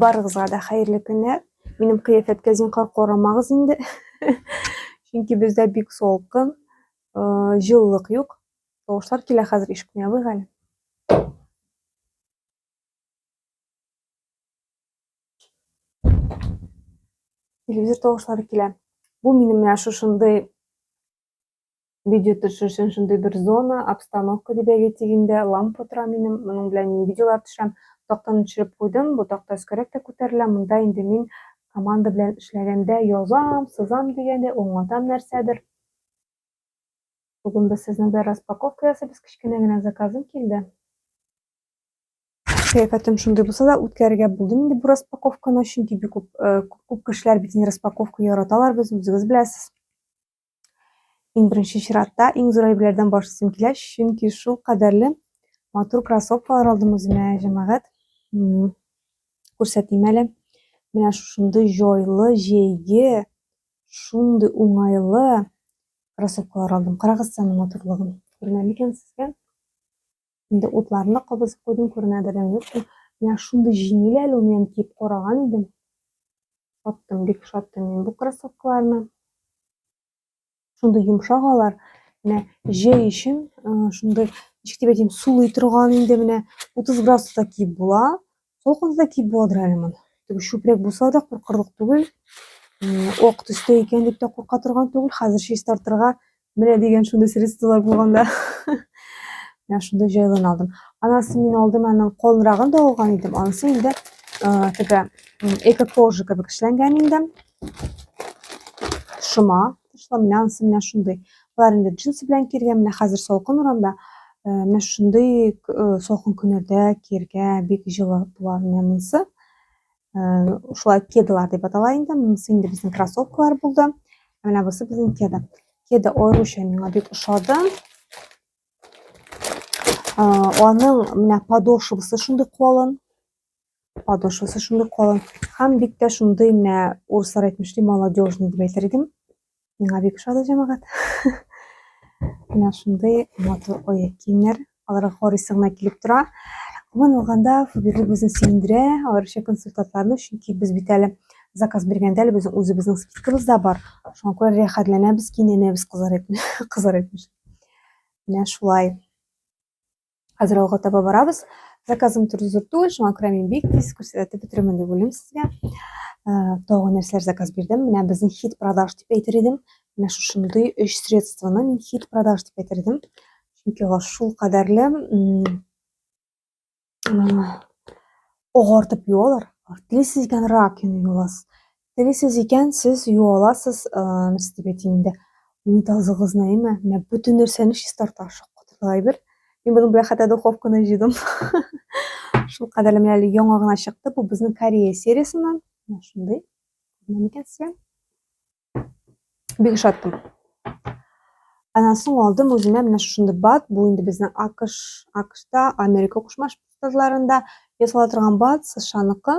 Барыгызга да хәерле көннәр. Минем кыяфәткә зинхар карамагыз инде. Чөнки бездә бик солкын, җылылык юк. Тавышлар килә хәзер ишекне ябыйк әле. Телевизор тавышлары килә. Бу минем менә шушындый Видео төшер өчен шундый бер зона, обстановка дип әйтә дигәндә, лампа тора минем, моның белән мин видеолар төшәм. Тактаны төшереп куйдым, бу такта өскәрәк тә күтәрелә, монда инде мин команда белән эшләгәндә язам, сызам дигәндә, аңлатам нәрсәдер. Бүген без сезнең белән распаковка ясыйбыз, кечкенә генә заказым килде. Кыяфәтем шундый булса да, үткәрергә булдым инде бу распаковканы, чөнки бик күп, күп кешеләр бит инде распаковка яраталар, без үзегез беләсез. Иң беренче чиратта иң зур әйберләрдән баш тартасым килә, чөнки шул кадәрле матур кроссовкалар алдым үземә, җәмәгать. Күрсәтим әле. Менә шушындый җайлы, җәйге, шундый уңайлы кроссовкалар алдым. Карагыз саны матурлыгын. Күренә микән сезгә? Инде утларны да кабызып куйдым, күренәдер дә юктыр. Менә шундый җиңел әле ул, мин киеп караган идем. Шаттым, бик шаттым мин бу кроссовкаларны. Шундый йомшак алар. Менә җәй өчен шундый, ничек дип әйтим, сулый торган инде менә 30 градуста киеп була. Сол кызда ки бодра әлемон. Тик шүпрәк булса да куркырлык түгел. Ок төстә икән дип тә курка торган түгел. Хәзер чәч тартырга менә дигән шундый средстволар булганда. Менә шундый җайлын алдым. Анасы мин алдым, аның калынрагын да алган идем. Анысы инде теге эко-кожа кебек эшләнгән инде. Шома, Тотышлы менә анысы менә шундый. Алар инде джинсы белән кергән, менә хәзер салкын урамда. Э, менә шундый э, салкын көннәрдә кергә бик җылы була менә монысы. Э, шулай кедалар дип атала инде. Монысы инде безнең кроссовкалар булды. Менә бусы безнең кеда. Кеда аеруча миңа бик ошады. Аның менә подошвасы шундый калын. подошвасы шундый калын һәм бик тә шундый менә урыслар әйтмешли молодежный дип әйтер идем миңа бик ошады җәмәгать менә шундый матур аяк киемнәр аларга карыйсы гына килеп тора гомумән алганда фаберлик безне сөендерә аеруча консультантларны чөнки без бит әле заказ биргәндә әле безнең үзебезнең скидкабыз да бар шуңа күрә рәхәтләнәбез кинәнәбез кызар әйтмешли менә шулай Хәзер алга таба барабыз. Заказым туры зур түгел, шуңа күрә мин бик тиз күрсәтеп бетерермен дип уйлыйм сезгә. Тагын нәрсәләр заказ бирдем. Менә безнең хит продаж дип әйтер идем. Менә шушындый өч средствоны мин хит продаж дип әйтер идем. Чөнки алар шул кадәрле агартып юалар. Телисез икән рак юасыз. Телисез икән, сез юу аласыз, нәрсә дип әйтим инде, унитазыгызны, әйме? Менә бөтен нәрсәне чистарта, шок катырлык әйбер. Мин моның белән хәтта духовканы җыйдым. Шул кадәрле менә әле яңа гына чыкты. Бу безнең Корея сериясеннән. Менә шундый. Күренә микән сезгә? Бик шаттым. Аннан соң алдым үземә менә шушындый бат. Бу инде безнең АКШ, АКШта, Америка Кушма Штатларында ясала торган бат, США-ныкы.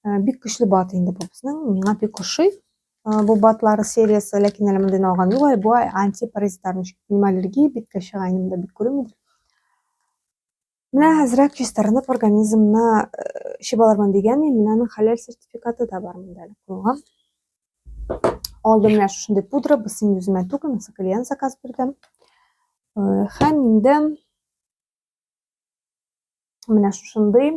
Э, бик көчле бат инде бу безнең. Миңа бик ошый э, бу батлары сериясе, ләкин әле мондыйны алган юк әле. Бу антипаразитарный. Минем аллергия биткә чыга инде, бик күренмидер. Менә әзрәк чистарынып организмны чибалармын дигән, менә аның хәләл сертификаты да бар монда әле кулга. Алдым менә шушындый пудра, без син үземә түгел, мисал клиент заказ бирдем. Хәм инде менә шушындый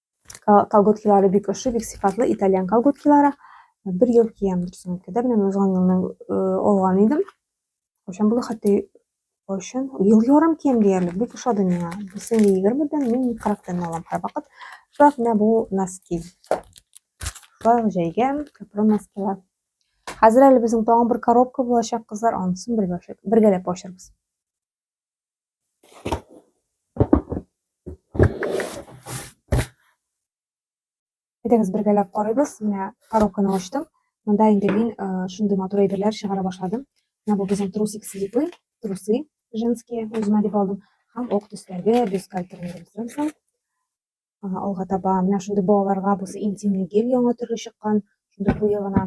Колготкилары бик ошый, бик сыйфатлы итальян колготкилары. Бер ел киям дөресен әйткәндә, менә узган елны алган идем. Кайчан булды хәтта кайчан? Ел ярым киям диярлек, бик ошады миңа. Берсен 20-дән, мин 40-тан алам һәрвакыт. Шулай менә бу носки. Шулай җәйгә кәпрон носкилар. Хәзер әле безнең тагын бер коробка булачак, кызлар, анысын бергәләп ачырбыз. Әйдәгез бергәләп карыйбыз. Менә коробканы ачтым. Монда инде мин э, шундый матур әйберләр чыгара башладым. Менә бу безнең трусик слипы, трусы женские үземә дип алдым. Һәм ок төсләргә бюстгальтерны алга таба менә шундый балаларга бусы интимный гель яңа төрле чыккан шундый куе гына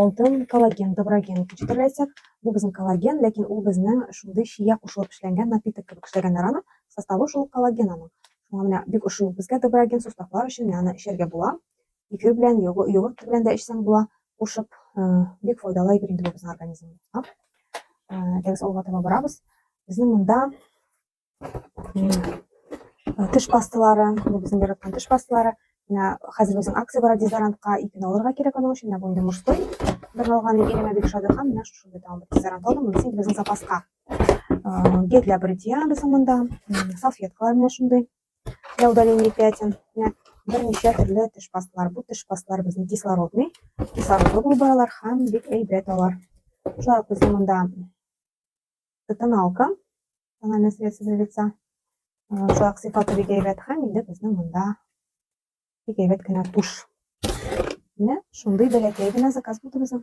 алтын коллаген доброген кичтерләсәк бу безнең коллаген ләкин ул безнең шундый чия кушылып эшләнгән напиток кебек эшләгәннәр аны составы шул коллаген аның шуңа менә бик ошый безгә доброген суставлар өчен аны эчәргә була эфир белән йогурт белән дә эчсәң була кушып бик файдалы әйбер инде бу безнең организмга тәгез алга таба барабыз безнең монда Теш пасталары, бу безнең яраткан теш пасталары. Менә хәзер безнең акция бара дезодорантка ипен алырга кирәк аның өчен. Менә бу инде мужской. Бер алган дип иремә бик ошады һәм менә шушында тагын бер дезодорант алдым. Монысы инде безнең запаска. Гель для бритья безнең монда. Салфеткалар менә шундый. Для удаления пятен. Менә берничә төрле теш пасталар. Бу теш пасталар безнең кислородный. Кислородлы булып баралар һәм бик әйбәт алар. Шулай ук безнең монда Это тоналка, тональное средство для лица. Шулай ук сыйфаты бик әйбәт һәм инде безнең монда бик әйбәт кенә туш. Менә шундый бәләкәй генә заказ булды безнең.